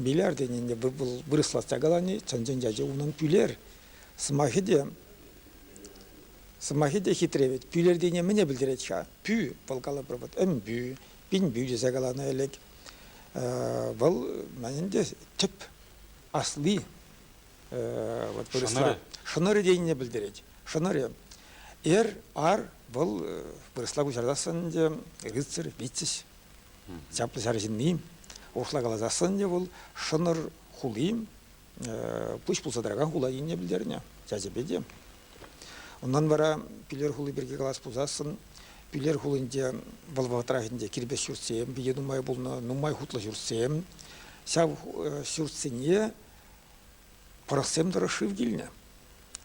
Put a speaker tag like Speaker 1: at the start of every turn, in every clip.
Speaker 1: Бильярдин ӗнтӗ вырӑслах чакалани чӑн-чӑн ячӗ унӑн пӳлер. Сӑмахӗ те, сӑмахӗ те хитре вӗт. Пӳлертине мӗне пӗлтерет-ха? Пӳ, вӑл калӑпӑр вӑт ӗмпӳ, пинпӳ тесе каланӑ ӗлӗк. Вӑл мӗн ӗнтӗ тӗп асли вот вырӑсла. Шӑнӑрӗ тенине пӗлтерет. Шӑнӑрӗ. Эр, ар вӑл вырӑсла куҫарсассӑн ӗнтӗ рыцарь, витязь. Чаплӑ ҫар ҫынни, урӑхла каласассӑн ӗнтӗ вӑл Шӑнӑр хули пуҫ пулса тӑракан хула енне пӗлтернӗ чаҫӗпе те. Унтан вара Пӳлер хули пирки калас пулсассӑн Пӳлер хулинче вӑл вӑхӑтрах ӗнтӗ кирпӗч ҫуртсем питӗ нумай пулнӑ, нумай хутлӑ ҫуртсем. Ҫав ҫуртсене пӑрӑхсем тӑрӑх шыв килнӗ.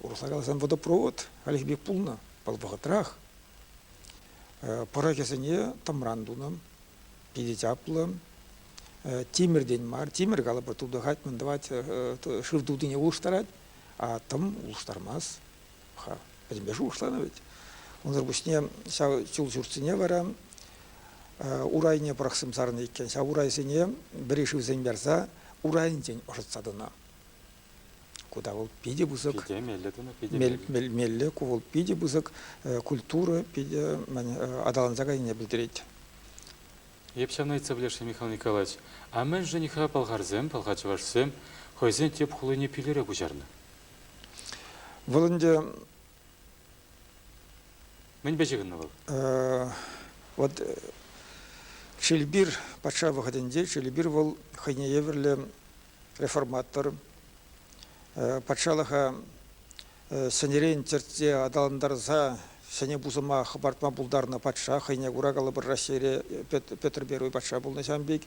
Speaker 1: Урӑхла каласан водопровод хальхи пек пулнӑ вӑл вӑхӑтрах. Пӑрӑхӗсене тӑмран тунӑ. Питӗ чаплӑ. Тимӗртен мар, тимӗр калӑпӑр, тутӑхать, мӗн тӑвать, шыв тутине улӑштарать, а тӑм улӑштармасть. Пӗтӗмпе шухӑшланӑ вӗт. Унсӑр пуҫне ҫав чул ҫуртсене вара урайне пӑрахсам сарнӑ иккен. Ҫав урайсене вӗри шывсем ярса урайӗнчен ӑшӑтса тӑнӑ. Ку та вӑл питӗ пысӑк. Питӗ меллӗ тунӑ, питӗ меллӗ. Меллӗ, ку вӑл питӗ пысӑк культура питӗ аталанса кайнине пӗлтерет.
Speaker 2: Эп ҫавнайца пулӗ-ши, Михаил Николаевич? А мӗншӗн-ха пӑлхарсем, пӑлхарчӑвашсем хӑйсен тӗп хулине пӳлӗре куҫарнӑ? Вӑл ӗнтӗ... Мӗнпе ҫыхӑннӑ вӑл? Вот
Speaker 1: Шелбир патша вӑхӑтӗнче Шелбир вӑл хӑйне евӗрлӗ реформатор, патшалӑха сӗнӗрен чӗртсе аталантарса ҫӗнӗ пусӑма хӑпартма пултарнӑ патша хӑйне кура калӑпӑр Раҫҫейре Петр Первый патша пулнӑ ҫавӑн пек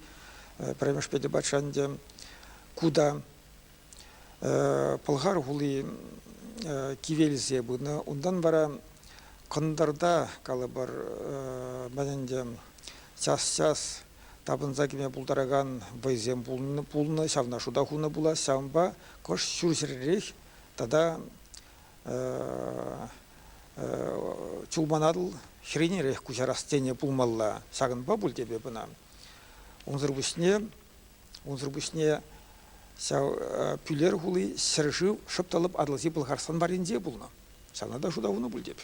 Speaker 1: пӗрремӗш Петӗр патша ӗнтӗ ку та Пӑлхар хули кивелсе пынӑ унтан вара кӑнтӑрта калӑпӑр мӗн ӗнтӗ час-час тапӑнса кӗме пултаракан вӑйсем пулнӑ, ҫавна шута хунӑ пулас. Ҫавӑнпа кӑшт ҫурҫӗррех тата чулманатл хӗренерех куҫарас тенӗ пулмалла. Ҫакӑнпа пуль тепе ӑна. Унсӑр пуҫне, унсӑр пуҫне ҫав Пӳлер хули ҫӗршыв шӑп та лӑп Атӑлҫи Пӑлхарстан варринче пулнӑ. Ҫавна та шута хунӑ пуль теп.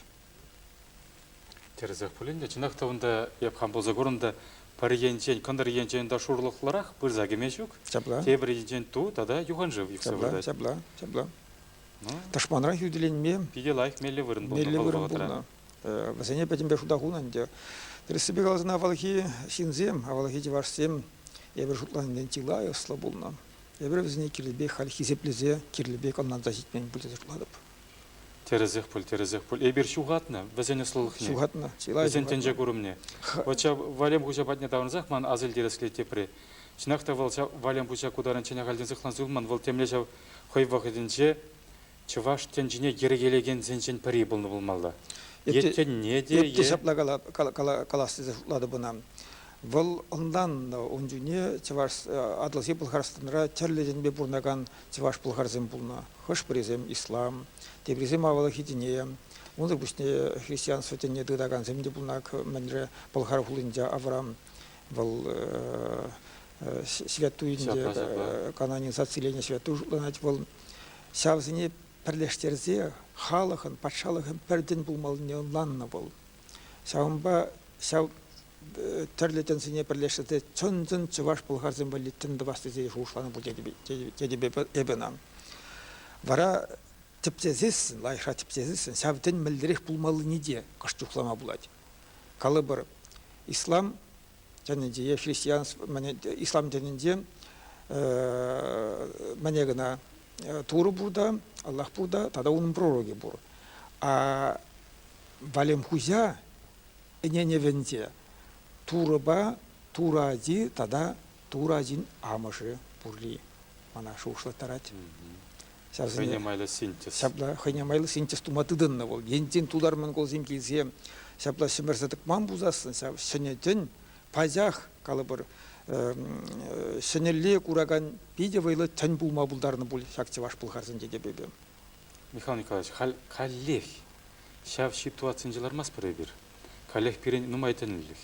Speaker 2: Тӗрӗсех пулин те, чӑнах та унта эп хам пулса курӑм та пӗр енчен, кӑнтӑр енчен та шурлӑхлӑрах пырса кӗме ҫук. Ҫапла. Тепӗр енчен ту тата юханшыв ӳксе выртать. Ҫапла, ҫапла.
Speaker 1: Ну, тӑшманран хӳтӗленме питӗ лайӑх меллӗ вырӑн
Speaker 2: пулнӑ меллӗ вырӑн пулнӑ.
Speaker 1: Э, вӗсене пӗтӗмпе шута хунӑ ӗнтӗ. Тӗрӗссипе каласан, авалхи ҫынсем, авалхи чӑвашсем эпир шутланинчен чылай ӑслӑ пулнӑ. Эпир вӗсене кирлӗ пек халь хисеплесе, кирлӗ пек ӑнланса ҫитмен пуль тесе шутлатӑп. Тӗрӗсех
Speaker 2: пуль, тӗрӗсех пуль. Эпир ҫухатнӑ вӗсен ӑслӑлӑхне. Ҫухатнӑ. Чылай вӗсен
Speaker 1: тӗнче курӑмне.
Speaker 2: Вӑл ҫав Валем хуҫа патне таврӑнсах ман асил тӗрӗслет тепри. Чӑнах та вӑл ҫав Валем хуҫа ку таран ҫӗнӗ ахальтен сыхланса юлман, вӑл темле ҫав хӑй вӑхӑтӗнче чӑваш тӗнчине йӗркелекенсенчен пӗри пулнӑ пулмалла. Еткенне те... Эпке ҫапла
Speaker 1: калас тесе шутлатӑп ӑна. Вӑл ӑнланнӑ ун чухне Чӑваш Атӑлҫи Пӑлхарстанра тӗрлӗ енпе пурӑнакан Чӑваш-пӑлхарсем пулнӑ, хӑш-пӗрисем ислам, теприсем авалхи тӗне, унсӑр пуҫне христианство тӗнне тытакансем те пулнӑ. Мӗнре Пӑлхар хулинче Авраам вӑл святуйӗнче канонизациленӗ святуй шутланать вӑл. Ҫавсене пӗрлештерсе халӑхӑн, патшалӑхӑн пӗр тӗн пулмаллине ӑнланнӑ вӑл. Ҫавӑнпа ҫав тӗрлӗ тӗнсене пӗрлешсе те чӑн-чӑн чӑваш-пӑлхарсем валли тӗн тӑвас тесе шухӑшланӑ пуль тетӗп эпӗ ӑна. Вара тӗпчесессӗн, лайӑхра тӗпчесессӗн ҫав тӗн мӗнлерех пулмаллине те кӑшт чухлама пулать. Калӑпӑр, ислам тӗнӗнче е христианство ислам тӗнӗнче мӗне кӑна Турӑ пур та, Аллах пур та, тата унӑн пророкӗ пур. А Валемхуҫа ӗненӗвӗнче Турӑпа Турӑ ачи тата Турӑ ачин амӑшӗ пурри мана шухӑшлаттарать. Хӑйне
Speaker 2: майлӑ синтез. Ҫапла хӑйне майлӑ
Speaker 1: синтез тума тытӑннӑ вӑл. Енчен тутар монголсем килсе ҫапла ҫӗмӗрсе тӑкман пулсассӑн ҫав ҫӗнӗ тӗн пачах калӑпӑр ҫӗнӗлле куракан питӗ вӑйлӑ тӗн пулма пултарнӑ пуль ҫак чӑваш пӑлхарсен тетепӗпе. Михаил Николаевич,
Speaker 2: халь каллех ҫав ситуацинче лармастпӑр эпир. Каллех пирӗн нумай тӗлӗнлӗх.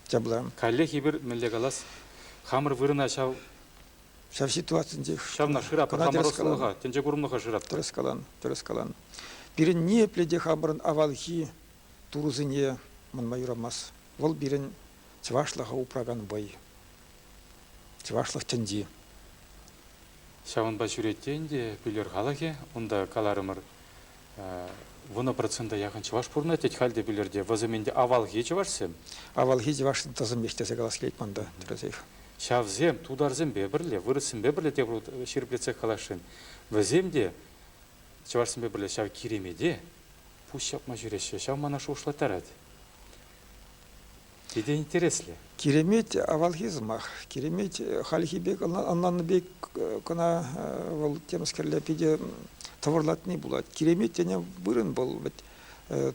Speaker 2: Ҫапла. Каллех эпир мӗнле калас, хамӑр вырӑна ҫав
Speaker 1: ҫав ситуацинче ҫавна шыратпӑр, хамӑр
Speaker 2: ӑслӑлӑха, тӗнче
Speaker 1: курӑмлӑха
Speaker 2: шыратпӑр. Тӗрӗс калан, тӗрӗс калан.
Speaker 1: Пирӗн ниепле те хамӑрӑн авалхи турӑсене манма юрамасть. Вӑл пирӗн чӑвашлӑха упракан вӑй. Чӑвашлӑх тӗнчи.
Speaker 2: Ҫавӑнпа ҫӳретте ӗнтӗ пӳлер халӑхӗ. Унта каларӑмӑр вунӑ процента яхӑн чӑваш пурӑнать, тет халь те пӳлерте. Вӑсем ӗнтӗ авалхи чӑвашсем. Авалхи чӑвашсен
Speaker 1: тӑсӑмех тесе калас килет манта, тӗрӗсех. Ҫавсем
Speaker 2: тутарсемпе пӗрле, вырӑссемпе пӗрле те ҫирӗплетсех каласшӑн. Вӗсем те чӑвашсемпе пӗрле ҫав киремете пуҫ ҫапма ҫӳреҫҫӗ. Ҫав мана шухӑшлаттарать. Питӗ интереслӗ. Киремет
Speaker 1: авалхи сӑмах. Киремет хальхи пек, ӑнланнӑ пек кӑна вӑл темскерле питӗ тӑвӑрлатни пулать. Киремет тенӗ вырӑн вӑл вӗт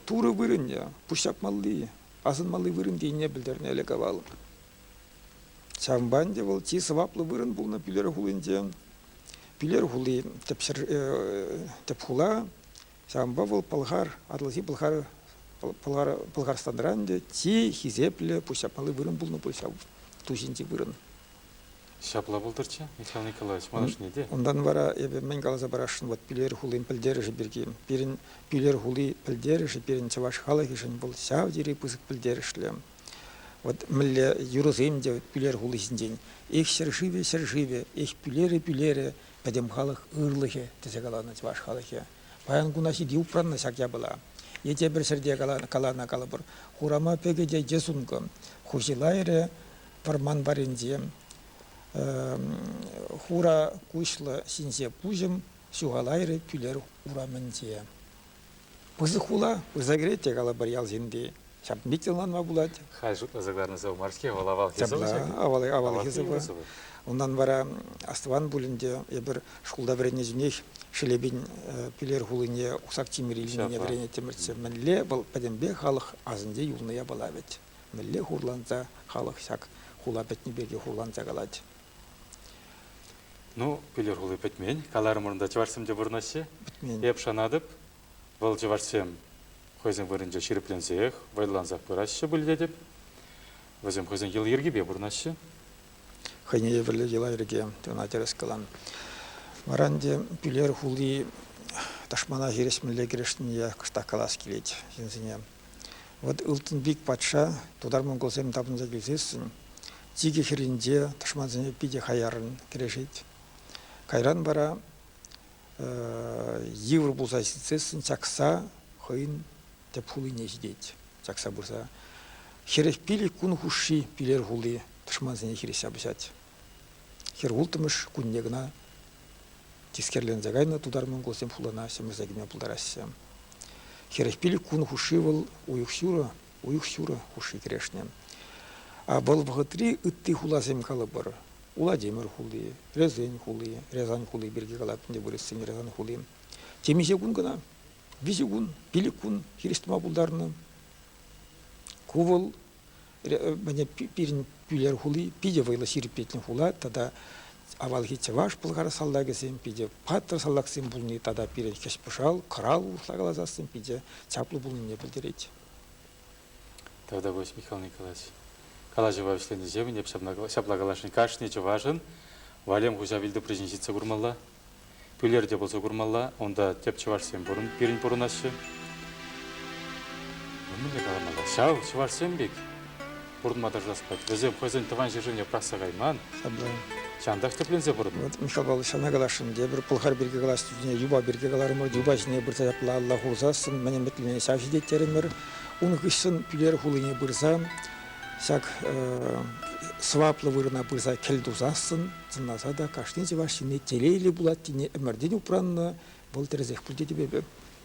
Speaker 1: турӑ вырӑнӗ, пуҫҫапмалли, асӑнмалли вырӑн тенине пӗлтернӗ ӗлӗк-авал. Ҫавӑнпа ӗнтӗ вӑл чи сӑваплӑ вырӑн пулнӑ Пӳлер хулинче. Пӳлер хули тӗп, ҫӗр, тӗп хула Ҫавӑнпа вӑл Пӑлхар, Атӑлҫи Пӑлхар, Пӑлхарстанра ӗнтӗ чи хисеплӗ, пуҫҫапмалли вырӑн пулнӑ пуль ҫав ту ҫинчи вырӑн. Ҫапла
Speaker 2: пултӑрччӗ, Михаил Николаевич, манашне те. Унтан вара эпӗ мӗн
Speaker 1: каласа парасшӑн, вот Пӳлер хулин пӗлтерӗшӗ пирки. Пирӗн Пӳлер хули пӗлтерӗшӗ пирӗн чӑваш халӑхӗшӗн вӑл ҫав тери пысӑк пӗлтерӗшлӗ. Вот мӗнле юрӑсем те Пӳлер хули ҫинчен. Эх ҫӗршывӗ, ҫӗршывӗ, эх Пӳлерӗ, Пӳлерӗ, пӗтӗм халӑх ырлӑхӗ тесе каланӑ чӑваш халӑхӗ. Паян куна ҫити упраннӑ ҫак япала. Е тепӗр ҫӗрте каланӑ калӑпӑр, хурама пӗкӗте те сункӑ. Хуҫи лайрӗ пӑрман парӗнче хура куҫлӑ ҫинҫе пуҫӑм ҫухалайрӗ кӳлер урамӗнче. Пысӑк хула, пырса кӗрет те калӑпӑр ял ҫынни. Ҫав пит ӑнланма пулать. Халь
Speaker 2: шутласа кӑларнӑ мар-ҫке, вӑл авалхи сӑвӑ Авал,
Speaker 1: авалхи сӑвӑ. Унтан вара Астӑван пулин те эпир шкулта вӗреннӗҫӗнех Шелепин Пӳлер хулине Усак Тимӗр илнине вӗренеттӗмӗрччӗ. Мӗнле вӑл пӗтӗмпех халӑх асӗнче юлнӑ япала вӗт. Мӗнле хурланса халӑх ҫак хула пӗтнӗ пирки хурланса калать. Ну,
Speaker 2: Пӗлер хули пӗтмен. Каларӑмӑрӑн та чӑвашсем те пурӑнаҫҫӗ. Пӗтмен. Эп шанатӑп, вӑл чӑвашсем хӑйсен вырӑнче ҫирӗпленсех, вӑйлансах пыраҫҫӗ пуль тетӗп. Вӗсем хӑйсен йӑли-йӗркипе пурӑнаҫҫӗ. Хӑйне
Speaker 1: евӗрлӗ йӑла-йӗрке тена тӗрӗс калам. Вара ӗнтӗ Пӳлер хули тӑшмана хирӗҫмелле кӗрешнине кӑштах калас килет ҫынсене. Вӑт Ылтӑнпик патша тутар-монголсем тапӑнса килсессӗн Чикӗ хӗрринче тӑшмансене питӗ хаяррӑн кӗрешет. Кайран вара йывӑр пулса ҫитсессӗн чакса хӑйӗн тӗп хулине ҫитет. Чакса пырса хӗрех пилӗк кун хушши Пилер хули тӑшмансене хирӗҫ ҫапӑҫать. Хӗр улттӑмӗш кунне кӑна тискерленсе кайнӑ тутар монголсем хулана ҫӗмӗрсе кӗме пултараҫҫӗ. Хӗрех пилӗк кун хушши вӑл уйӑх ҫурӑ уйӑх-ҫурӑ хушши кӗрешнӗ. Вӑл вӑхӑтри ытти хуласем калӑпӑр, Уладимир хули, Рязань хули, Рязань хули пирки калатӑн те вырӑссен Рязань хули. Темиҫе кун кӑна, виҫӗ кун, пилӗк кун хирӗҫ тӑма пултарнӑ. Ку вӑл мане пирӗн Пӳлер хули питӗ вӑйлӑ ҫирӗплетнӗ хула тата авалхи чӑваш пӑлхар салтакӗсем питӗ паттӑр салтаксем пулни тата пирӗн хӗҫ-пӑшал, кӑрал урӑхла каласассӑн питӗ чаплӑ пулнине пӗлтерет.
Speaker 2: Тогда будет, Михаил Николаевич. Калаҫӑва вӗҫленӗҫемӗн эп ҫапла каласшӑн. Кашни чӑвашӑн валем хуҫа вилтупричӗн ҫитсе курмалла, пӳлер те пулса курмалла. Унта тӗп чӑвашсем пирӗн пурӑнаҫҫӗ. Мӗнле каламалла? Ҫав чӑвашсем пек пурӑнма тӑрӑшас пек. Вӗсем хӑйсен тӑван ҫӗршывне пӑрахса кайман. Ҫантах тӗпленсе пурӑннӑ. Вот Мишапа ҫавна
Speaker 1: каласшӑн. Тепӗр пӑлхар пирки калас чухне юпа пирки каларӑмӑр. Юпа ҫине пырса ҫапла алла хурсассӑн мӗн ӗмӗтлине ҫав ҫитеттерӗмӗр. Ун хыҫҫӑн Пӳлер хулине пырсан ҫак сӑваплӑ вырӑна пырса кӗл тусассӑн сӑнласа та кашни чӑваш ҫынни телейлӗ пулать тени ӗмӗртен упраннӑ. Вӑл тӗрӗсех пуль тетӗп эпӗ.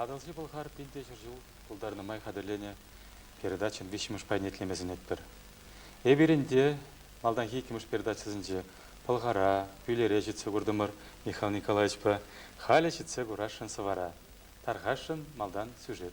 Speaker 2: Атӑлҫи Пӑлхар пилте ҫӗр ҫул пултарнӑ май хатӗрленӗ передачӑн виҫҫӗмӗш пайне итлеме сӗнетпӗр. Эпирӗн те малтанхи иккӗмӗш передачӑсенче Пӑлхара, Пӳлере ҫитсе куртӑмӑр Михаил Николаевичпа халӗ ҫитсе курасшӑн сӑвара. Тархасшӑн малтан сюжет.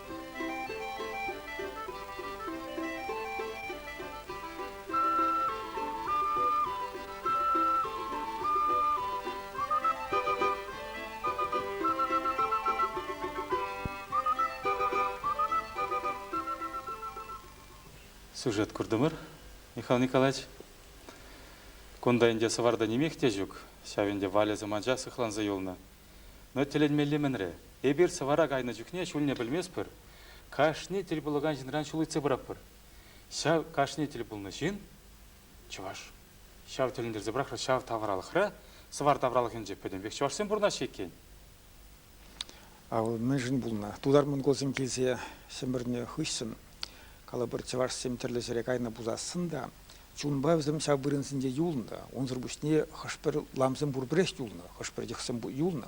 Speaker 2: Сюжет курдӑмӑр, Михаил Николаевич. Кунта ӗнтӗ сӑварта нимех те ҫук. Ҫав ӗнтӗ Валя сӑманча сыхланса юлнӑ. Но тӗлӗнмелле мӗнре, эпир сӑвӑра кайнӑ чухне ҫулне пӗлместпӗр, кашни тӗл пулакан ҫынран ҫул ыйтса пыратпӑр. Ҫав кашни тӗл пулнӑ ҫын, чӑваш. Ҫав тӗлӗнтерсе пӑрахрӗ ҫав тавралӑхра, сӑвар тавралӑхӗнче пӗтӗм пек чӑвашсем пурӑнаҫҫӗ иккен. Ав
Speaker 1: мӗншӗн пулнӑ? Тутар-монголсем килсе Ҫӗмӗрнӗ хыҫҫӑн калӑпӑр чӑвашсем тӗрлӗ ҫӗре кайнӑ пулсассӑн та Чунпа вӗсем ҫав вырӑнсенче юлнӑ. Унсӑр пуҫне хӑш-пӗр ламсем пурпӗрех юлнӑ, хӑш-пӗр йӑхсем юлнӑ.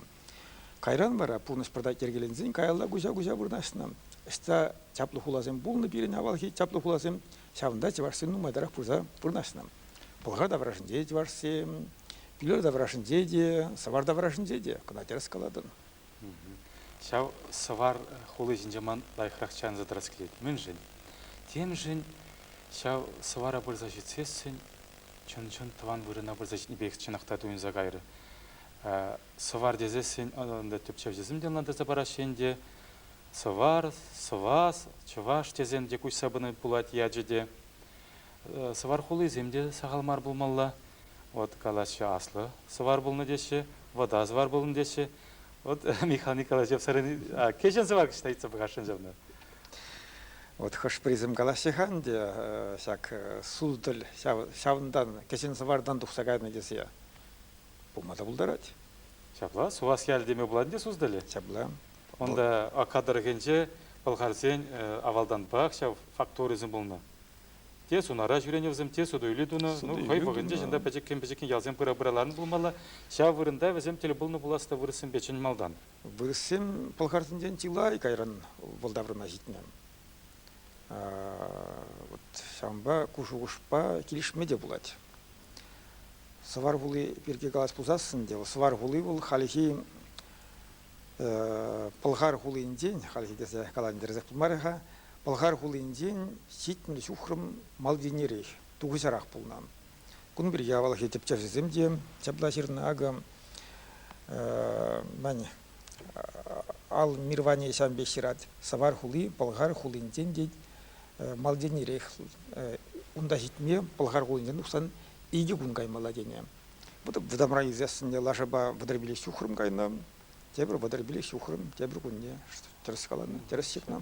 Speaker 1: Кайран вара пурнӑҫ пӑртак йӗркеленсен каялла куҫа-куҫа вырнаҫнӑ. Ӑҫта чаплӑ хуласем пулнӑ пирӗн авалхи чаплӑ хуласем, ҫавӑнта чӑвашсем нумайтарах пырса вырнаҫнӑ. Пӑлха таврашӗнче чӑвашсем, Пӳлер таврашӗнче те, Сӑвар таврашӗнче те, кӑна тӗрӗс калатӑн.
Speaker 2: Ҫав сӑвар хули ҫинче ман лайӑхрах чарӑнса тӑрас килет. Мӗншӗн? Темшӗн ҫав сӑвара пырса ҫитсессӗн чӑн-чӑн тӑван вырӑна пырса ҫитнӗ пекех чӑнах та туйӑнса кайрӗ. Сӑвар тесессӗн ӑнта тӗпчевҫӗсем те ӑнлантарса параҫҫӗ ӗнтӗ. Сӑвар, сӑвас, чӑваш тесен те куҫса пыни пулать ячӗ те. Сӑвар хулисем те сахал мар пулмалла. Вӑт калаҫҫӗ аслӑ сӑвар пулнӑ теҫҫӗ, вӑта сӑвар пулнӑ теҫҫӗ. Вӑт Михаил Николаевич сӑрӑн кӗҫӗн сӑвар кӑҫта ыйтса пӑхасшӑн ҫавна.
Speaker 1: Вот хӑш-пӗрисем калаҫҫӗ-ха ӗнтӗ ҫак сутӑль ҫавӑнтан кӗҫӗн сӑвартан тухса кайнӑ тесе. Пулма та пултарать. Ҫапла, Сувас
Speaker 2: ялӗ теме пулать те сутӑлӗ? Ҫапла. Унта Ака тӑрӑхӗнче пӑлхарсен авалтанпах ҫав фактурисем пулнӑ. Те сунара ҫӳренӗ вӗсем, те суту-илӳ тунӑ. Ну, хӑй вӑхӑтӗнче чӑнта пӗчӗккӗн-пӗчӗккӗн ялсем пыра-пыра ларнӑ пулмалла. Ҫав вырӑнта вӗсем тӗл пулнӑ пулас та вырӑссемпе чӑн малтан. Вырӑссем
Speaker 1: пӑлхарсенчен чылай кайран вӑл таврӑна ҫитнӗ. Вот ҫавӑнпа ку шухӑшпа килӗшме те пулать. Сӑвар хули пирки калас пулсассӑн те, Сӑвар хули вӑл хальхи Пӑлхар хулинчен, хальхи тесе калантерсех пулмарӗ-ха, Пӑлхар хулинчен ҫитмӗл ҫухрӑм Мальдинерех, тухӑҫарах пулнӑ. Кун пирки авалхи тӗпчевҫӗсем те ҫапла ҫырнӑ. Акӑ, мӗн, Ал Мирване ҫавӑн пек ҫырать, Савар хули Пӑлхар хулинчен тет, Мальдинерех. Унта ҫитме Пӑлхар хулинчен тухсан икӗ кун каймалла тенӗ. вӑтамран ӳсессӗнне лашапа вӑтӑрпилле ҫухрӑм кайнӑ. Тепӗр вӑтӑрпилле ҫухрӑм, тепӗр кунне тӗрӗс каланӑ, тӗрӗс ҫыхнӑ.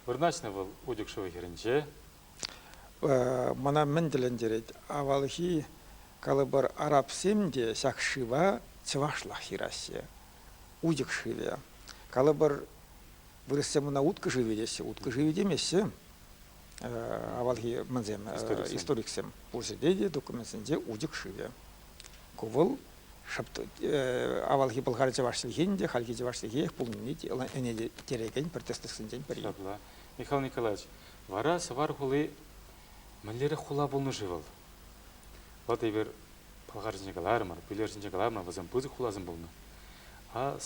Speaker 2: Вырнаҫнӑ вӑл Утюгшево хӗрӗнче.
Speaker 1: Мана мӗн тӗлӗнтерет, авалхи калӑпӑр арабсем те ҫак шыва чӑвашлах ҫыраҫҫӗ. Утюг шывӗ. Калӑпӑр вырӑссем ӑна уткӑ шывӗ теҫҫӗ, уткӑ шывӗ темеҫҫӗ. авалхи мӗнсем историксем пурсӗте те документсенче утик шывӗ. Ку вӑл авалхи Пӑлхар чӑваш чӗлхин те хальхи чӑваш чӗлхех пулнине ӗнентерекен протестантсенчен пӗри. Ҫапла. Михаил Николаевич,
Speaker 2: вара Сӑвар хули мӗнлерех хула пулнӑ-ши вӑл? Владимир Пӑлхар ҫинче каларӑмӑр, Пӳлер ҫинче каларӑмӑр, вӗсем пысӑк хуласем пулнӑ.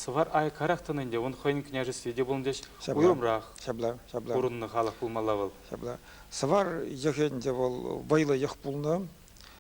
Speaker 2: Сӑвар айӑккарах тӑнӑ ӗнтӗ, ун хӑйӗн княжестви те пулнӑ теҫ, уйрӑмрах
Speaker 1: ҫапла,
Speaker 2: ҫапла. пурӑннӑ
Speaker 1: халӑх пулмалла вӑл.
Speaker 2: Ҫапла.
Speaker 1: Сӑвар
Speaker 2: йӑхӗ ӗнтӗ
Speaker 1: вӑл вӑйлӑ
Speaker 2: йӑх
Speaker 1: пулнӑ.